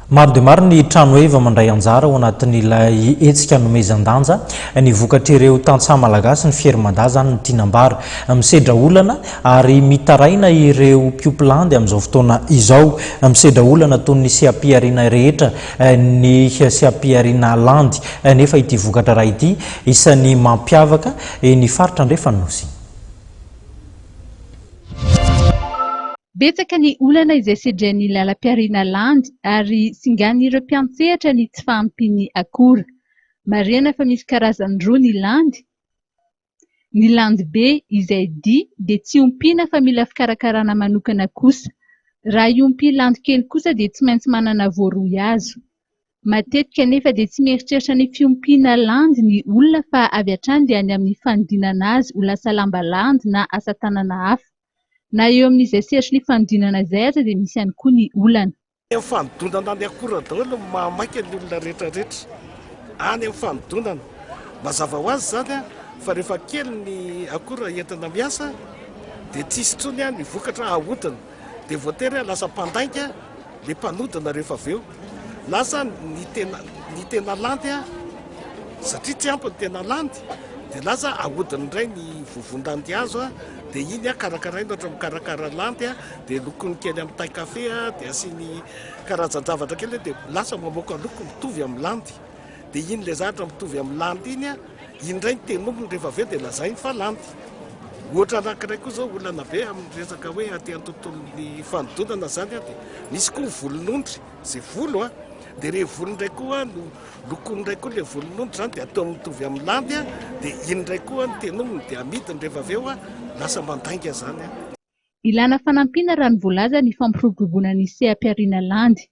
Maro dia maro ny tranoheva mandray anjara ao anatin'ilay hetsika nomezan-danja ny vokatr'ireo tantsaha malagasy ny Fier Mada izany no tiana ambara. Misedra olana ary mitaraina ireo mpiomplandy amin'izao fotoana izao. Misedra olana toy ny seha-pihariana rehetra ny seha-pihariana landy nefa ity vokatra ra ity isan'ny mampiavaka ny faritra andrefan-nosy. Betsaka ny olana izay sedren'ny lalam-pihariana landy ary singan'ireo mpiantsehatra ny tsy fahampian'ny akora. Marihana fa misy karazany roa ny landy, ny landy be izay di dia tsy ompiana fa mila fikarakarana manokana kosa. Raha hiompy landy kely kosa dia tsy maintsy manana voaroy azo. Matetika anefa dia tsy mieritreritra ny fiompiana landy ny olona fa avy hatrany dia any amin'ny fanodinana azy ho lasa lamba landy na asa tanana hafa. Na eo amin'izay sehatry ny fanodinana izay aza dia misy ihany koa ny olana. Any amin'ny fanodinana any akora daholo no maha maika ny olona rehetra rehetra any amin'ny fanodinana. Mazava ho azy izany fa rehefa kely ny akora entina miasa dia tsy hisy intsony ny vokatra ahodina. Dia voatery lasa mpandainga ilay mpanodina rehefa avy eo. Na aza ny tena, ny tena landy satria tsy ampy ny tena landy dia lasa ahodina indray ny vovon-dandihazo. Dia iny an, karakaraina ohatra mikarakara lampy an, dia lokony kely amin'ny tay kafe an, dia asiany karazan-javatra kely an, dia lasa mamoaka loko mitovy amin'ny landy. Dia iny ilay zavatra mitovy amin'ny landy iny an, iny indray ny tenoniny rehefa avy eo dia lazainy fa landy. Ohatra anankiray koa izao olana be amin'ny resaka hoe aty an-tontolon'ny fanodinana izany an, dia misy koa ny volon'ondry, izay volo an, dia ireny volo indray koa no Lokoiny indray koa ilay volon'ondry izany dia ataony mitovy amin'ny landy dia iny indray koa ny tenominy dia amidiny rehefa avy eo lasa mandainga izany. Ilana fanampiana raha ny voalaza ny fampiroboroboana ny seha-pihariana landy.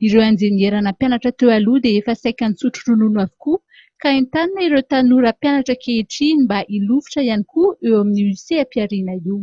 Ireo injeniera nampianatra teo aloha dia efa saika nitsotro ronono avokoa ka entanina ireo tanora mpianatra ankehitriny mba hilofotra ihany koa eo amin'io seha-pihariana io.